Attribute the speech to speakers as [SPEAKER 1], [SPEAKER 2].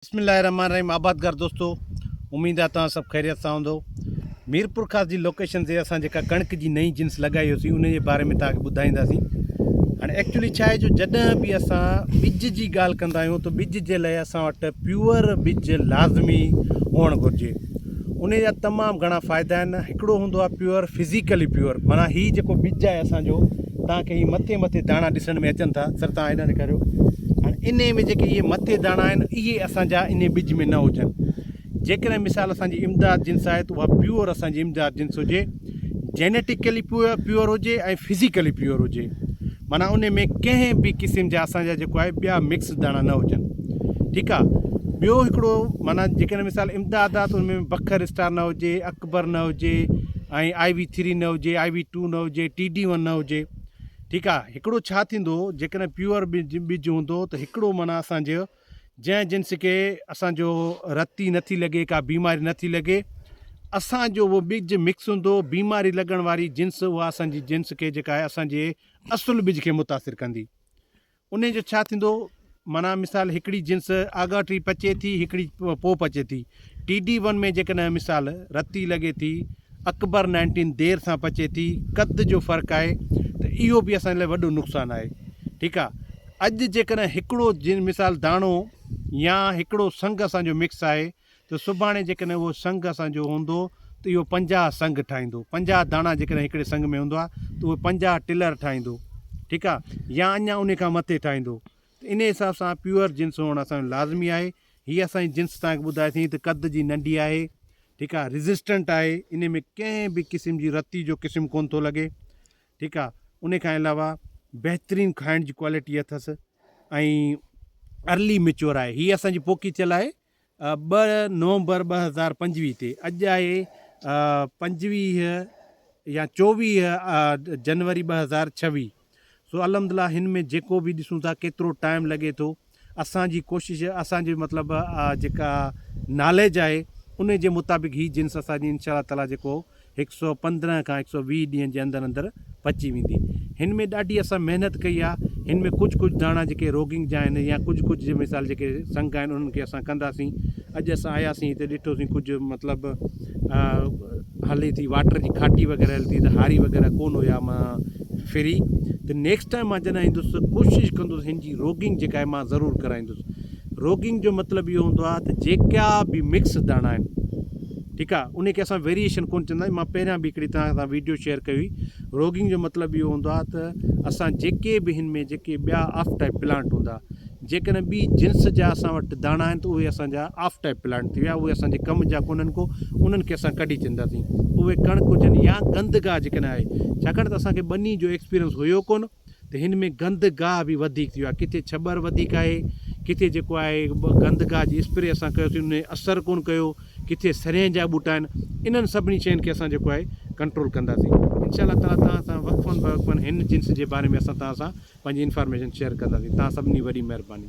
[SPEAKER 1] بسم الله الرحمن الرحيم آبادگار دوستو اميد آ توهان سڀ خيريت سان هوندو ميرپورخاص جي لوڪيشن تي اسان جيڪا ڪڻڪ جي نئين جنس لڳائي هيوسي ان جي باري ۾ توهان کي ٻڌائينداسي هاڻي ايڪچولي ڇا آهي جو جڏهن به اسان ٻج جي ڳالهه ڪندا آهيون ته ٻج جي لاء اسان وٽ پيور ٻج لازمي هئڻ گهرجي انهي جا تمام گهڻا فائدا آهن هڪڙو هوندو آهي پيور فزيڪلي پيور معنيٰ هي جيڪو ٻج آهي اسان جو تان کي هي مٿي مٿي داڻا ڏسڻ ۾ اچن ٿا سر تان هيڏانهن ڏيکاريو هاڻي انهي ۾ جيڪي اهي مٿي داڻا آهن اهي اسان جا انهي ٻج ۾ نه هجن جيڪڏهن مثال اسان جي امداد جنس آهي ته اها پيور اسان جي امداد جنس هجي جينيٽيڪلي پيور پيور هجي ۽ فزيڪلي پيور هجي معنيٰ انهي ۾ ڪنهن به قسم جا اسان جا جيڪو آهي ٻيا مڪس داڻا نه هجن ٺيڪ آ ٻيو هڪڙو معنيٰ جيڪڏهن مثال امداد آ ته ان ۾ بکر اسٽار نه هجي اڪبر نه هجي ۽ آئي وي ٿري نه هجي آئي وي ٽو نه هجي ٽي ڊي ون نه هجي ٺيڪ آ هڪڙو ڇا ٿيندو جيڪڏهن پيور ٻج ٻج هوندو ته هڪڙو معنيٰ اسان جو جنهن جنس کي اسان جو رتي نه ٿي لڳي ڪا بيماري نه ٿي لڳي اسان جو اهو ٻج مڪس هوندو بيماري لڳڻ واري جنس اها اسان جي جنس کي جيڪا آهي اسان جي اصل ٻج کي متاثر ڪندي ان جو ڇا ٿيندو معنيٰ مثال هڪڙي جنس آڳاٽي پچي ٿي هڪڙي پوء پچي ٿي ٽي ڊي ون ۾ جيڪڏهن مثال رتي لڳي ٿي، اڪبر نائنٽين دير سان پچي ٿي، قد جو فرق آهي ته اهو به اسان جي لاء وڏو نقصان آهي. ٺيڪ آهي. اڄ جيڪڏهن هڪڙو جن مثال داڻو يا هڪڙو سنگ اسان جو مڪس آهي ته سڀاڻي جيڪڏهن اهو سنگ اسان جو هوندو ته اهو پنجاهه سنگ ٺاهيندو. پنجاهه داڻا جيڪڏهن هڪڙي سنگ ۾ هوندا ته اهو پنجاهه ٽلر ٺاهيندو. ٺيڪ آهي. يا اڃا انهي کان مٿي ٺاهيندو. ته انهي حساب سان پيور جنس هئڻ اسان جو لازمي آهي. هي اسان جي جنس توهان کي ٻڌائي سين ته قد جي ننڍي آهي ٺيڪ آهي ريزسٽنٽ آهي انهي ۾ ڪنهن به قسم جي رتي جو قسم ڪونه ٿو لڳي ٺيڪ آهي انهي کان علاوه بهترين کائڻ جي ڪوالٽي اٿس ۽ ارلي ميچور آهي هي اسان جي پوکي ٿيل آهي ٻه نومبر ٻه هزار پنجويهه تي اڄ آهي پنجويهه يا چوويهه جنوري ٻه هزار ڇويهه سو الحمدلله هن ۾ جيڪو به ڏسون ٿا ڪيترو ٽائيم لڳي ٿو اسان جي ڪوشش اسان جي مطلب جيڪا ناليج آهي انهي جي مطابق هي جنس اسان جي انشاء الله تعالي جيڪو هڪ سؤ پندرهن کان هڪ سؤ ويهه ڏينهن جي اندر اندر پچي ويندي هن ۾ ڏاڍي اسان محنت ڪئي آهي هن ۾ ڪجهه ڪجهه داڻا جيڪي روگنگ جا آهن يا ڪجهه ڪجهه جي مثال جيڪي سنگ آهن انهن کي اسان ڪنداسين اڄ اسان آياسين هتي ڏٺوسين ڪجهه مطلب هلي ٿي واٽر جي کاٽي وغيره هلي ٿي ته هاري وغيره ڪون هيا مان فري ته نيڪسٽ ٽائيم مان جڏهن ايندس ته ڪوشش ڪندس هن جي روگنگ جيڪا آهي مان ضرور ڪرائيندس روگنگ جو مطلب اهو هوندو آهي ته جيڪا به مڪس داڻا آهن ٺيڪ آهي ان کي اسان ويريشن ڪون چوندا آهيون مان پهريان به هڪڙي توهان سان ويڊيو شيئر ڪئي هئي روگنگ جو مطلب اهو هوندو آهي ته اسان جيڪي به هن ۾ جيڪي ٻيا آف ٽائيپ پلانٽ هوندا جيڪڏهن ٻي جنس جا اسان وٽ داڻا آهن ته اهي اسان جا آف ٽائيپ پلانٽ ٿي ويا اهي اسان جي ڪم جا ڪونهن ڪو انهن کي اسان ڪڍي ڇڏنداسين اهي ڪڻڪ هجن يا گند گاهه جيڪڏهن آهي ڇاڪاڻ ته اسان کي ٻني جو ايڪسپيرينس هيو ڪونه ته هن ۾ گند گاهه به وڌيڪ ٿي ويو آهي ڪٿي ڇٻر وڌيڪ آهي ڪٿي جيڪو آهي گند گاهه جي اسپري اسان ڪيوسين انهن اثر ڪونه ڪيو ڪٿي سرين جا ٻوٽا آهن انهن سڀني شين کي اسان جيڪو آهي ڪنٽرول ڪنداسين انشاء الله تعالي توهان سان وقفن بوقفن هن جنس جي باري ۾ اسان توهان سان پنهنجي انفارميشن شيئر ڪنداسين توهان سڀني جي وڏي مهرباني.